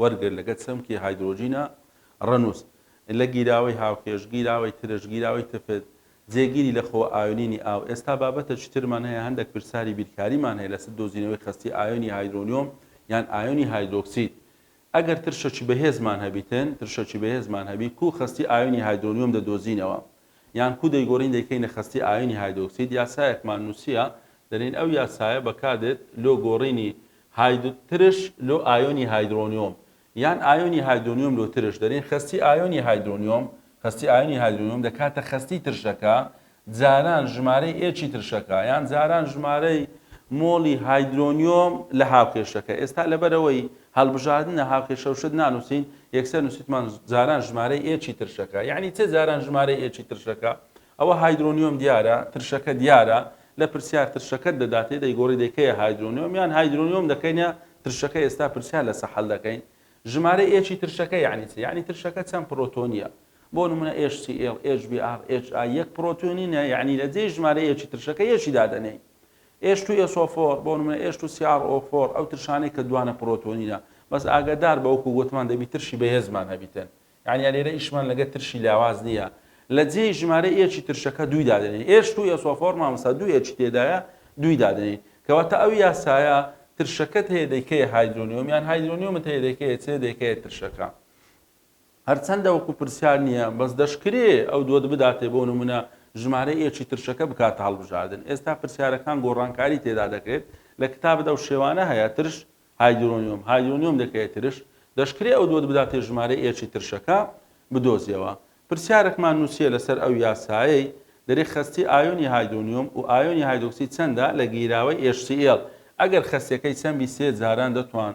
وەرگر لەگەل چەمکی هایدرۆجینە ڕەنووس لە گیراوەی هاوکێش، گیراوەی ترش، گیراوەی تفت، جێگیری لە خۆ ئایۆنینی ئاو ئێستا بابەتە چیترمان هەیە هەندەک پرساری بیرکاریمان هەیە لەسر دۆزینەوەی خەستی ئایۆنی هایدرۆنیۆم یان ئایۆنی هایدرۆکسید ئەگەر ترشەکی بەهێزمان هەبیتن ترشەکی بەهێزمان هەبی کوو خەستی ئایۆنی هایدرۆنیۆم دەدۆزینەوە یان کو دەیگۆرین دەیکەینە خەستی ئایۆنی هایدۆکسید یاسایەکمان نوسیە دەلین ئەو یاسایە بەکادێت لۆ گۆرینی هاید ترش لۆ ئایۆنی هایدرۆنیۆم یان ئایۆنی هایدرۆنیۆم لۆ ترش دەلین خەستی ئایۆنی هایدرۆنیۆم خەستی ئایۆنی هایدرۆنیۆم دەکاتە خەستی ترشەکە جاران ژمارەی ئێچی ترشەکە یان جاران ژمارەی مۆڵی هایدرۆنیۆم لە هاوکێشەکە ئێستا لەبەرئەوەی هەڵبژاردنە هاوکێشە و شت نانووسین، یەکسەر نووسیتمان جاران ژمارەی ئێ چی ترشەکە. یەعنی چ جاران ژمارەی ئێ چی ترشەکە؟ ئەوە هایدرۆنیۆم دیارە، ترشەکە دیارە، لە پرسیار ترشەکەت دەداتێ دەیگۆڕی دەی کەیە هایدرۆنیۆم یان هایدرۆنیۆم دەکەینە ترشەکە ئێستا پرسیار لەسە حەل دەکەین. ژمارەی ئێ چی ترشەکە یەعنی چ؟ یەعنی ترشەکە چەند پرۆتۆنییە. بۆ نموونە ئێچ سی ئێڵ، ئێچ بی ئاڕ، ئێچ ئای یەک پرۆتۆنینە یەعنی لە جێی ژمارەی ئێ چی ترشەکە ئێ چی دادەنێین. ئێش تو ئێس ئۆ فۆر، بۆ نمونە ئێش تو سی ئاڕ ئۆ فۆر، ئەو ترشانەی کە دوانە پرۆتۆنینە، بەس ئاگەدار بە وەکو گۆتمان دەبی ترشی بەهێزمان هەبیتن، یانە لێرە ئیشمان لەگەر ترشی لاواز نیە، لە جێی ژمارەی ئێچی ترشەکە دووی دادەنێین، ئێش تو ئێس ئۆ فۆر مامۆستا دوو ئێچی تێدایە دووی دادەنێین، کەواتە ئەو یاسایە ترشەکەت هەیە دەیکەیە هایدرۆنیۆم، یان هایدرۆنیۆمت هەیە دەیکەیە چێ دەیکەیە ترشەکە. هەرچەندە وەکو پرسیار نییە، بەس دەشکرێ ئەو دووەت بداتێ بۆ نمونە ژمارەی ئێکی ترشەکە بکاتە هەڵبژاردن، ئێستا پرسیارەکان گۆڕانکاری تێدا دەکرێت، لە کتابت ئەو شێوانە هەیە، ترش، هایدرۆنیۆم، هایدرۆنیۆم دەکەیە ترش، دەشکرێ ئەو دووەت بداتێ ژمارەی ئێکی ترشەکە بدۆزیەوە. پرسیارەکمان نوسیە لەسەر ئەو یاسایەی دەرێ خەستی ئایۆنی هایدرۆنیۆم و ئایۆنی هایدرۆکسید چەندە لە گیراوەی HCL ئەگەر خەستیەکەی چەند بی سێ جاران دەتوان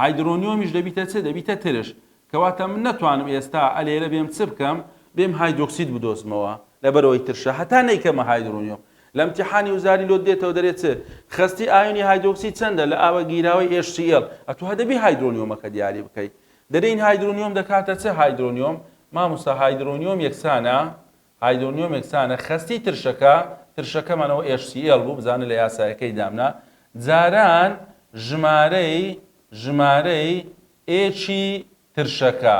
هایدرۆنیۆمیش دەبیتە چ؟ دەبیتە ترش. کەواتە من نەتوانم ئێستا ئە لێرە بێم چ بکەم؟ بێم هایدرۆکسید بدۆزمەوە، لەبەرئەوەی ترشە، هەتا نەیکەمە هایدرۆنیۆم. لە ئیمتیحانی وزاری لۆت دێتەوە دەرێ چ؟ خەستی ئایۆنی هایدرۆکسید چەندە لە ئاوە گیراوەی HCL؟ ئەتوو هە دەبی هایدرۆنیۆمەکە دیاری بکەی. دەرێین هایدرۆنیۆم دەکاتە چ؟ هایدرۆنیۆم، مامۆستا هایدرۆنیۆم یەکسانە هایدۆنیۆمێک سانە خەستی ترشەکە ترشەکەمانەوە HCL بوو بزانە لە یاسایەکەی دامنا جاران ژمارەی ژمارەی ئێچی ترشەکە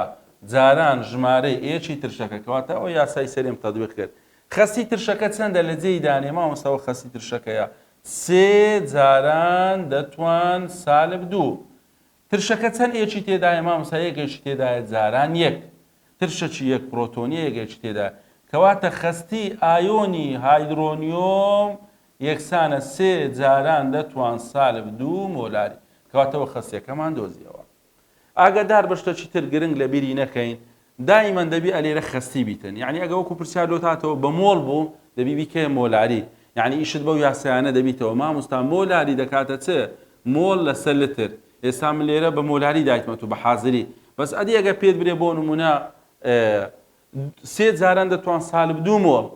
جاران ژمارەی ئێچی ترشەکە کەواتە ئەوە یاسای سەریم تەدویق کرد خەستی ترشەکە چەندە لە جێی دانێ مامۆستاوە خەستی ترشەکەیە سێ جاران دەتوان سالب دوو ترشەکە چەن ێکی تێدایە مامۆستا یەکێکی تێدایە جاران یەک ترشەکی یەک پرۆتۆنیە یەکێکی تێدایە کەواتە خەستی ئایۆنی هایدرۆنیۆم یەکسانە سێ جاران دە توان سالب دوو مۆلاری کەواتەوە خەستیەکەمان دۆزیەوە ئاگادار بە شتەکی تر گرنگ لەبیری نەکەین دائیمەن دەبی ئەلێرە خەستی بیتن یانی ئەگە وەکو پرسیار لۆت هاتەوە بە مۆڵ بوو دەبی بیکەیە مۆلاری یانی ئیشت بەو یاسایانە دەبیتەوە ماموستا مۆلاری دەکاتە چ مۆڵ لەسەر لتر ئێستا من لێرە بە مۆلاری دایتمە تو بە حازری بەس ئەدی ئەگە پێت برێ بۆ نمونە سێ جاران دەتوان سالب دوو مۆڵ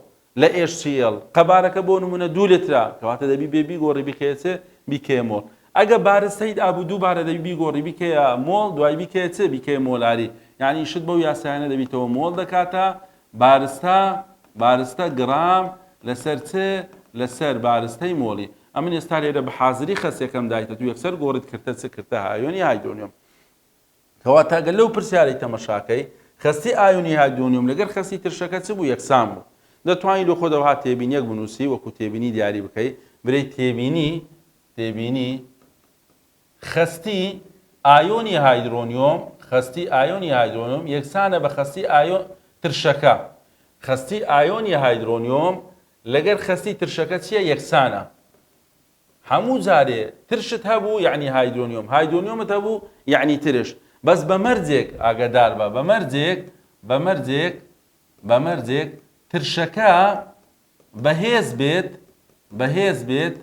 لە HCL، قەبارەکە بۆ نموونە دوو لترە، کەواتە دەبی بێ بیگۆڕی بیکەیە چ؟ بیکەیە مۆڵ. ئەگە بارت سەید ئابوو دووبارە دەبی بیگۆڕی بیکەیە مۆڵ، دوای بیکەیە چ؟ بیکەیە مۆلاری. یانی شت بەو یاسایانە دەبیتەوە مۆڵ دەکاتە، بارستە، بارستە گڕام لەسەر چ؟ لەسەر بارستەی مۆڵی. ئەمن ئێستا لێرە بە حازری خەسیەکەم دایتە تو یەکسەر گۆڕیت کردتە چ؟ کردتە هایۆنی هایدرۆنیۆم. کەواتە گەر لەو پرسیارەی تەمەشاکەی خەستی ئایونی هایدرۆنیۆم لەگەر خەستی ترشەکە چ بوو یەکسان بوو دەتوانی لۆ خۆت ئەوها تێبینیەک بنوسی وەکو تێبینی دیاری بکەی برێی تێبینی تێبینی خەستی ئایۆنی هایدرۆنیۆم خەستی ئایۆنی هایدرۆنیۆم یەکسانە بە خەستی ئایۆ ترشەکە خەستی ئایۆنی هایدرۆنیۆم لەگەر خەستی ترشەکە چیە یەکسانە هەموو جارێ ترشت هەبوو یەعنی هایدرۆنیۆم هایدرۆنیۆمت هەبوو یەعنی ترش بەس بە مەرجێک ئاگەدار بە بە مەرجێک بە مەرجێک بە مەرجێک ترشەکە بەهێز بێت بەهێز بێت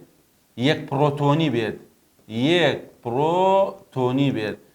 یەک پڕۆتۆنی بێت یەک پڕۆتۆنی بێت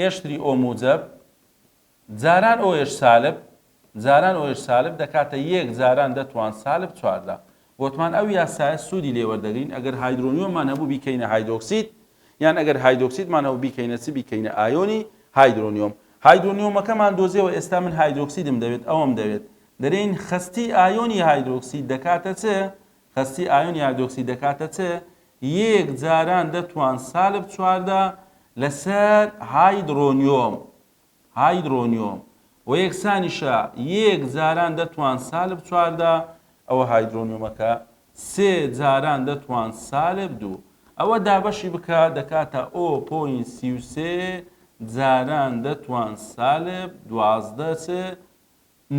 ئێشتری ئۆ موجەب، جاران ئۆ ئێش سالب، جاران ئۆ ئێش سالب دەکاتە یەک جاران دەتوان سالب چواردە. وتمان ئەو یاسایە سوودی لێ وەردەگرین ئەگەر هایدرۆنیۆممان هەبوو بیکەینە هایدرۆکسید، یان ئەگەر هایدرۆکسیدمان هەبوو بیکەینە چ بیکەینە ئایۆنی هایدرۆنیۆم. هایدرۆنیۆمەکەمان دۆزیەوە ئێستا من هایدرۆکسیدم دەوێت ئەوەم دەوێت دەرێین خەستی ئایۆنی هایدرۆکسید دەکاتە چ؟ خەستی ئایۆن یادۆکسی دەکاتە چ یەیەک جاران دەتوان سالب چواردە لە سەر هایدرۆنیۆم هایدرۆنیۆم و یەکسانیشە یەیەک جاران دەتوان سالب چواردە ئەوە هایدرۆنیۆمەکە سێ جاران دەتوان سالب دوو ئەوە دابەشی بکە دەکاتە ئۆ پۆین سی و سێ جاران دەتوان سالب دوازدە چ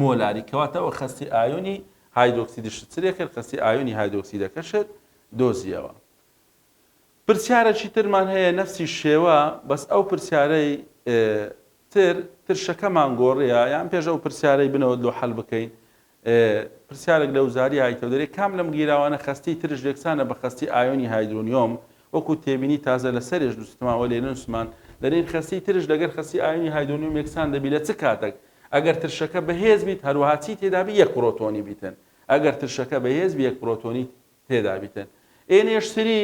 مۆلاری کەواتە وە خەستی ئایۆنی هایدۆکسیدشت سرێ کرد خەستی ئایۆنی هایدۆکسیدەکەشت دۆزیەوە پرسیارەکی ترمان هەیە نەفسی شێوە بەس ئەو پرسیارەی تر ترشەکەمان گۆڕیە یان پێش ئەو پرسیارەی بنەوەت لۆ حەل بکەین پرسیارێک لە وزاری هایتەودەری کام لەم گیراوانە خەستی ترش لێکسانە بە خەستی ئایۆنی هایدرۆنیۆم وەکوو تێبینی تازە لە سەرێژ دوستما و لێننسمان دەرێن خەستی ترش لەگەر خەستی ئایونی هایدۆنیۆم یەکسان دەبی لە چ کاتەک ئەگەر ترشەکە بەهێز بیت هەروەها چی تێدا بی یەک پرۆتۆنی بیتن ئەگەر ترشەکە بەهێز بی یەک پرۆتۆنی تێدا بیتن ئێ نێشتری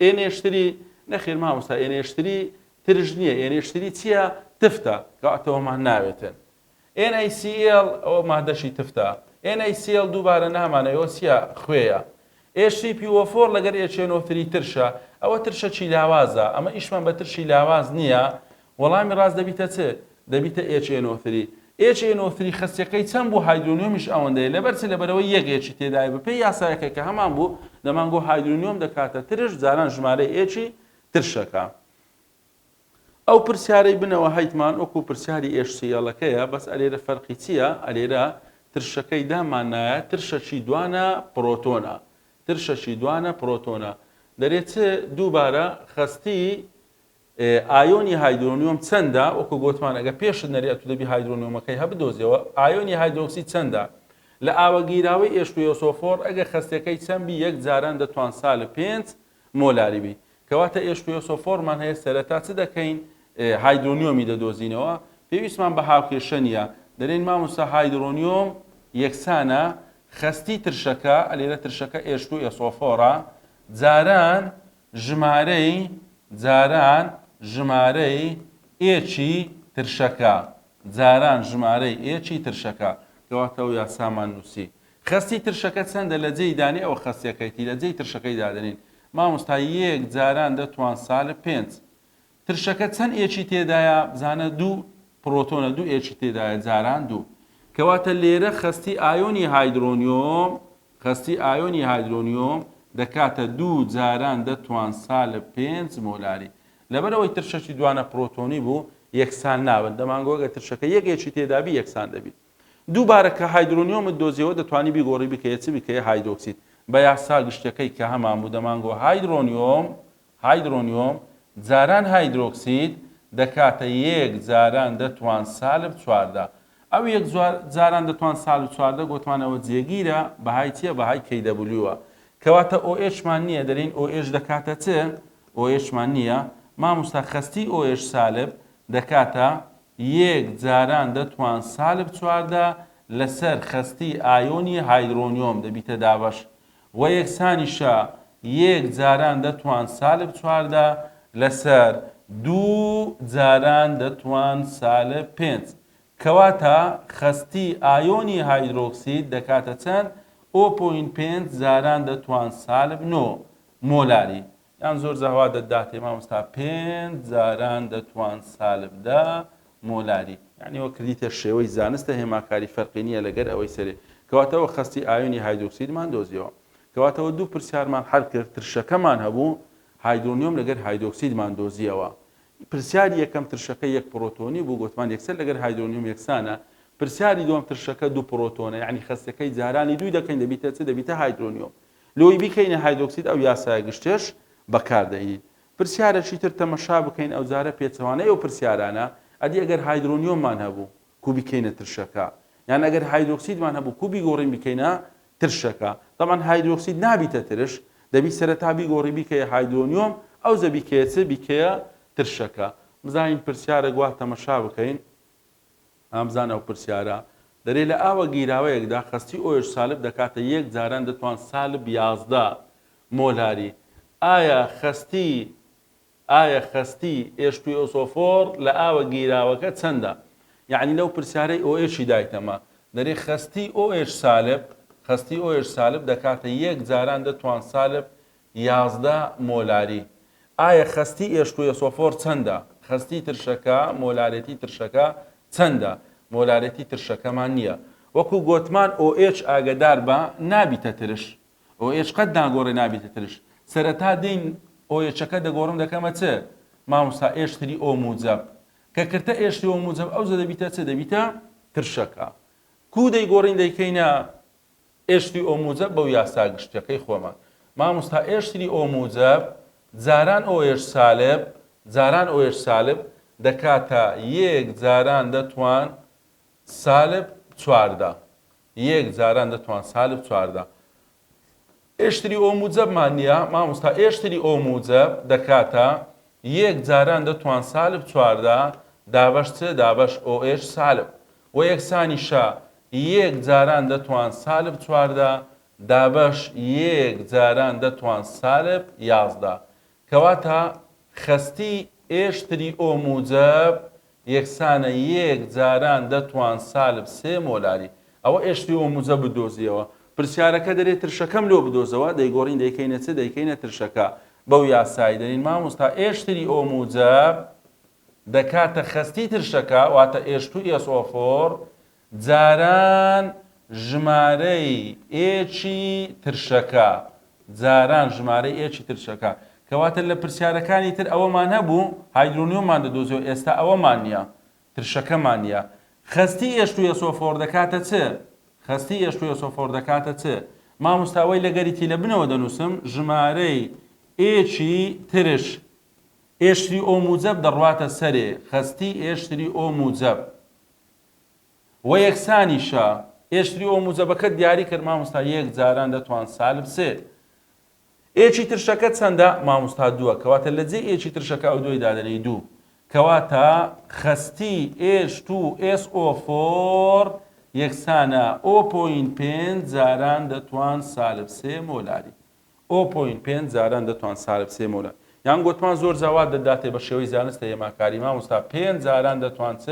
ئێ نێشتری نەخێر مامۆستا ئێ نێشتری ترش نییە ئێ نێشتری چییە تفتە کاتەوەمان ناوێتن NaCl ئەوە مادەشی تفتە. NaCl دووبارە نامانەوێ ئەوە چیە؟ خوێیە. HCPO4 لەگەر HNO تری ترشە. ئەوە ترشەکی لاوازە. ئەمە ئیشمان بە ترشی لاواز نیە. وەڵامی ڕاست دەبیتە چ؟ دەبیتە HNO تری. HNO تری خەستیەکەی چەند بوو هایدرۆنیۆمیش ئەوەندەیە. لەبەر چ؟ لەبەرئەوەی یەک ئێچی تێدایە. بە پێی یاسایەکە کە هەمان بوو دەمانگۆ هایدرۆنیۆم دەکاتە ترش جاران ژمارەی ئێچی ترشەکە. ئەو پرسیارەی بنەوە هەیتمان وەکو پرسیاری ئێشسیەڵەکەیە بەس ئەلێرە فەرقی چییە ئەلێرە ترشەکەی دامان نایە ترشەچی دوانە پرۆتۆنە ترشەچی دوانە پرۆتۆنە دەرێت چ دووبارە خەستی ئایۆنی هایدرۆنیۆم چەندە وەکو گوتمان ئەگە پێشت نەری ئەتو دەبی هایدرۆنیۆمەکەی هەبدۆزیەوە ئایۆنی هایدرۆکسی چەندە لە ئاوەگیراوەی ئێشتویۆسۆفۆر ئەگە خەستەکەی چەندبی یەک جاران دەتوان سالب پێنج مۆلاری بی کەواتە ئێش کوێسۆفۆرمان هەیە سەرەتا چ دەکەین هایدرۆنیۆمی دەدۆزینەوە پێویستمان بە هاوکێشە نیە دەرێن ماموسا هایدرۆنیۆم یەکسانە خەستی ترشەکە ئەلێرە ترشەکە ئێش کو ئێسۆفۆرە جاران ژمارەی جاران ژمارەی ئێچی ترشەکە جاران ژمارەی ئێچی ترشەکە کەواتەو یاسامان نووسی خەستی ترشەکە چەندە لە جێی دانی ئەوە خەستیەکەیتی لە جێی ترشەکەی دادەنین مامۆستا یێک جاران دە توان سالب پێنج ترشەکە چەند ئێکی تێدایە بزانە دوو پرۆتۆنە دوو ئێکی تێدایە جاران دوو کەواتە لێرە خەستی ئایۆنی هایدرۆنیۆم خەستی ئایۆنی هایدرۆنیۆم دەکاتە دوو جاران دە توان سالب پێنج مۆلاری لەبەرەوەی ترشەکی دوانە پرۆتۆنی بوو یەکسان نابن دەمانگۆگە ترشەکە یەک ئێکی تێدابی یەکسان دەبیت دووبارە کە هایدرۆنیۆمت دۆزیەوە دەتوانی بیگۆڕی بکەیە چ بکەیە هایدۆکسید بە یاسا گشتیەکەی کە هەمان بوو دەمانگۆ هایدرۆنیۆم هایدرۆنیۆم جاران هایدرۆکسید دەکاتە یەک جاران دەتوان سالب چواردە ئەو یەک جاران دەتوان سالب چواردە گۆتمانەوە جێگیرە بەهای چیە بەهای کەی دەبلیوە کەواتە ئۆ ئێشمان نییە دەلین ئۆ ئێش دەکاتە چ ئۆ ئێشمان نییە ماموستا خەستی ئۆ ئێش سالب دەکاتە یەک جاران دەتوان سالب چواردە لەسەر خەستی ئایۆنی هایدرۆنیۆم دەبیتە دابەش وە یەکسانیشە یەک جاران دەتوان سالب چواردە لەسەر دوو جاران دەتوان سالب پێنج کەواتە خەستی ئایۆنی هایدرۆکسید دەکاتە چەند؟ ئۆ پۆینت پێنج جاران دەتوان سالب نۆ مۆلاری یان زۆر زهوا دە داتێ مامۆستا پێنج جاران دە توان سالب دە مۆلاری یانی وە کردیتە شێوەی زانستە هێماکاری فەرقی نیە لە گەر ئەوەی سەرێ کەواتە وە خەستی ئایونی هایدرۆکسیدمان دۆزیەوە کەواتە وە دوو پرسیارمان حەل کرد ترشەکەمان هەبوو هایدرۆنیۆم لە گەر هایدرۆکسیدمان دۆزیەوە پرسیاری یەکەم ترشەکە یەک پرۆتۆنی بوو گوتمان یەکسەر لە گەر هایدرۆنیۆم یەکسانە پرسیاری دووەم ترشەکە دوو پرۆتۆنە یعنی خەستەکەی جارانی دووی دەکەین دەبیتە چ دەبیتە هایدرۆنیۆم لۆی بیکەینە هایدۆکسید ئەو یاسایە گشتیەش بەکاردەهینین پرسیارەکی تر تەمەشا بکەین ئەوجارە پێچەوانەی ئەو پرسیارانە ئەدی ئەگەر هایدرۆنیۆممان هەبوو کو بیکەینە ترشەکە یان ئەگەر هایدۆکسیدمان هەبوو کو بیگۆڕین بیکەینە ترشەکە تەبعەن هایدرۆکسید نابیتە ترش دەبی سەرەتا بیگۆڕی بیکەیە هایدرۆنیۆم ئەوجە بیکەیە چ بیکەیە ترشەکە بزانین پرسیارەک وا تەمەشا بکەین هامزان ئەو پرسیارە دەرێ لە ئاوە گیراوەیەکدا خەستی ئۆش سالب دەکاتە یەک جاران دەتوان سالب یازدە مۆلاری ئایا خەستی ئایا خەستی ئێش توی ئۆسۆفۆڕ لە ئاوە گیراوەکە چەندە یەعنی لەو پرسیارەی ئۆئێشی دایتەمە دەرێ خەستی ئۆئێش سالب خەستی ئۆئێش سالب دەکاتە یەک جاران دەتوان سالب یازدە مۆلاری ئایە خەستی ئێشکویەسۆفۆر چەندە؟ خەستی ترشەکە مۆلارێتی ترشەکە چەندە؟ مۆلارێتی ترشەکەمان نییە. وەکو گۆتمان OH ئاگەدار بە نابیتە ترش. OH قەت ناگۆرێ نابیتە ترش. سەرەتا دین OH ەکە دەگۆرم دەکەمە چ؟ ماموستا ئێش تری ئۆ موجەب. کە کرتە ئێش تری ئۆ موجەب ئەوجە دەبیتە چ؟ دەبیتە ترشەکە. کوو دەیگۆرین دەیکەینە؟ ئێشتری ئۆموجە بەو یاسا گشتیەکەی خۆمان. ماموستا ئێشتری ئۆموجە جاران ئۆێش سالب جاران ئۆێش سالب دەکاتە یێک جاران دەتوان سالب چواردە یێک جاران دەتوان سالب چواردە ئێشتری ئۆموجە مان نیە ماموستا ئێشتری ئۆموجە دەکاتە یێک جاران دەتوان سالب چواردە دابەش چ دابەش ئۆێش سالب وە یەکسانی شە یێک جاران دەتوان سالب چواردە دابەش یێک جاران دەتوان سالب یازدە کەواتە خەستی ئێشتری ئۆ موجەب یەکسانە یێک جاران دەتوان سالب سێ مۆلاری ئەوە ئێشتری ئۆ موجەبت دۆزیەوە پرسیارەکە دەرێ ترشەکەم لۆ بدۆزەوە دەیگۆرین دەیکەینە چ دەیکەینە ترشەکە بەو یاسای دەرین ماموستا ئێشتری ئۆ موجەب دەکاتە خەستی ترشەکە واتە ئێشتووی ئێسۆفۆر جاران ژمارەی ئێچی ترشەکە جاران ژمارەی ئێچی ترشەکە کەواتە لە پرسیارەکانی تر ئەوەمان هەبوو هایدرۆنیۆمان دەدۆزیەوە ئێستا ئەوەمان نیە ترشەکەمان نیە خەستی ئێشتووی ئێسۆفۆر دەکاتە چ خەستی ئێشتووی ئێسۆفۆر دەکاتە چ ماموستاوەی لەگەریتی لە بنەوە دەنووسم ژمارەی ئێچی ترش ئێشتری ئۆ موجەب دەڕواتە سەرێ خەستی ئێشتری ئۆ موجەب وە یەکسانیشە ئێشتری ئۆ موجەبەکەت دیاری کرد ماموستا یەک جاران دەتوان سالب سێ ئێچی ترشەکە چەندە ماموستا دووە کەواتە لە جێ ئێچی ترشەکە ئەو دوای دادەنێی دوو کەواتە خەستی ئێش تو ئێس ئۆ فۆر یەکسانە ئۆ پۆین پێنج جاران دەتوان سالب سێ مۆلاری ئۆ پۆینت پێنج جاران دەتوان سارب سێ مۆرە یان گۆتمان زۆر جا وا دەداتێ بە شێوەی زانستە هێماکاری مامۆستا پێنج جاران دەتوان چ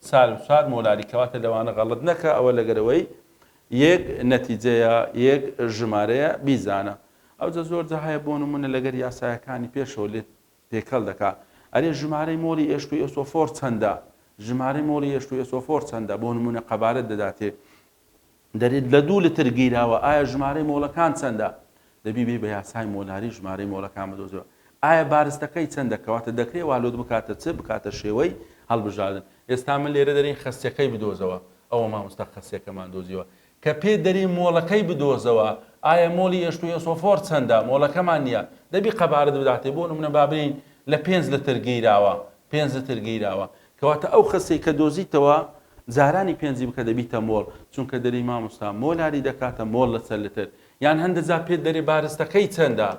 سارب چوار مۆلاری کەواتە لەوانە غەڵەت نەکە ئەوە لەگەرەوەی یەک نەتیجەیە یەک ژمارەیە بیزانە ئەوجە زۆر جا هەیە بۆ نمونە لەگەر یاسایەکانی پێشەوە لێت تێکەڵ دەکا ئەرێ ژمارەی مۆڵی ئێشتو ئێسۆفۆر چەندە ژمارەی مۆڵی ئێشتو ئێسۆفۆر چەندە بۆ نمونە قەبارەت دەداتێ دەرێت لە دوو لتر گیراوە ئایا ژمارەی مۆڵەکان چەندە؟ دەبی بێی بە یاسای مۆلاری ژمارەی مۆڵەکان بدۆزیەوە ئایا بارستەکەی چەندە کەواتە دەکرێ وا لۆت بکاتە چ بکاتە شێوەی هەڵبژاردن ئێستا من لێرە دەرێی خەسیەکەی بدۆزەوە ئەوە مامۆستا خەسیەکەمان دۆزیەوە کە پێت دەرێی مۆڵەکەی بدۆزەوە ئایا مۆڵی ئێش و ئێسۆفۆر چەندە مۆڵەکەمان نییە دەبی قەبارەت بداتێ بۆ نمونە با بێین لە پێنج لتر گیراوە پێنج لتر گیراوە کەواتە ئەو خەسەی کە دۆزیتەوە جارانی پێنجی بکە دەبیتە مۆڵ چونکە دەری مامۆستا مۆلاری دەکاتە مۆڵ لە چەند لتر یان هەندە جار پێت دەرێ بارستەکەی چەندە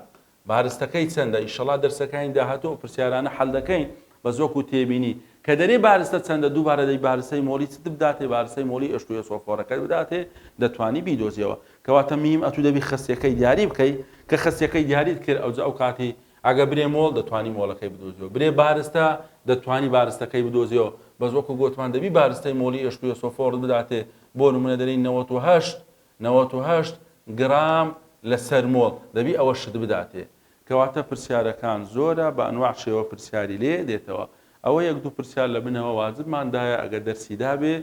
بارستەکەی چەندە ئیشەڵا دەرسەکانی داهاتوو ئەو پرسیارانە حەل دەکەین بەس وەکو تێبینی کە دەرێ بارستە چەندە دووبارە دەی بارستەی مۆڵی چت بداتێ بارستەی مۆڵی ئێشتوو ئێسۆفۆرەکەت بداتێ دەتوانی بیدۆزیەوە کەواتە میم ئەتوو دەبی خەسیەکەی دیاری بکەی کە خەسیەکەی دیاریت کرد ئەوجە ئەو کاتی ئەگە برێ مۆڵ دەتوانی مۆڵەکەی بدۆزیەوە برێ بارستە دەتوانی بارستەکەی بدۆزیەوە بەس وەکو گۆتمان دەبی بارستەی مۆڵی ئێشک و یەسۆ فۆڕت بداتێ بۆ نمونە دەرێی نەوەت و هەشت نەوەت و هەشت گرام لەسەر مۆڵ دەبی ئەوە شت بداتێ کەواتە پرسیارەکان زۆرە بە ئەنواع شێوە پرسیاری لێ دێتەوە ئەوە یەک دوو پرسیار لە بنەوە واجبمان دایە ئەگە دەرسی دابێ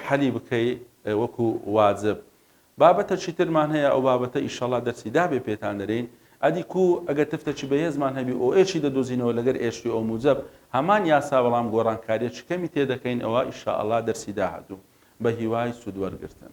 حەلی بکەی وەکو واجب بابەتە چی ترمان هەیە ئەو بابەتە ئیشەڵا دەرسی دابێ پێتان دەرێین ئەدی کو ئەگەر تفتە چی بەهێزمان هەبی ئۆ ئێ چی دەدۆزینەوە لەگەر ئێ شی ئۆ موجەب هەمان یاسا بەڵام گۆڕانکاریە چ کەمی تێ دەکەین ئەوە ئیشەئەڵا دەرسی داهاتوو بە هیوای سود وەرگرتن.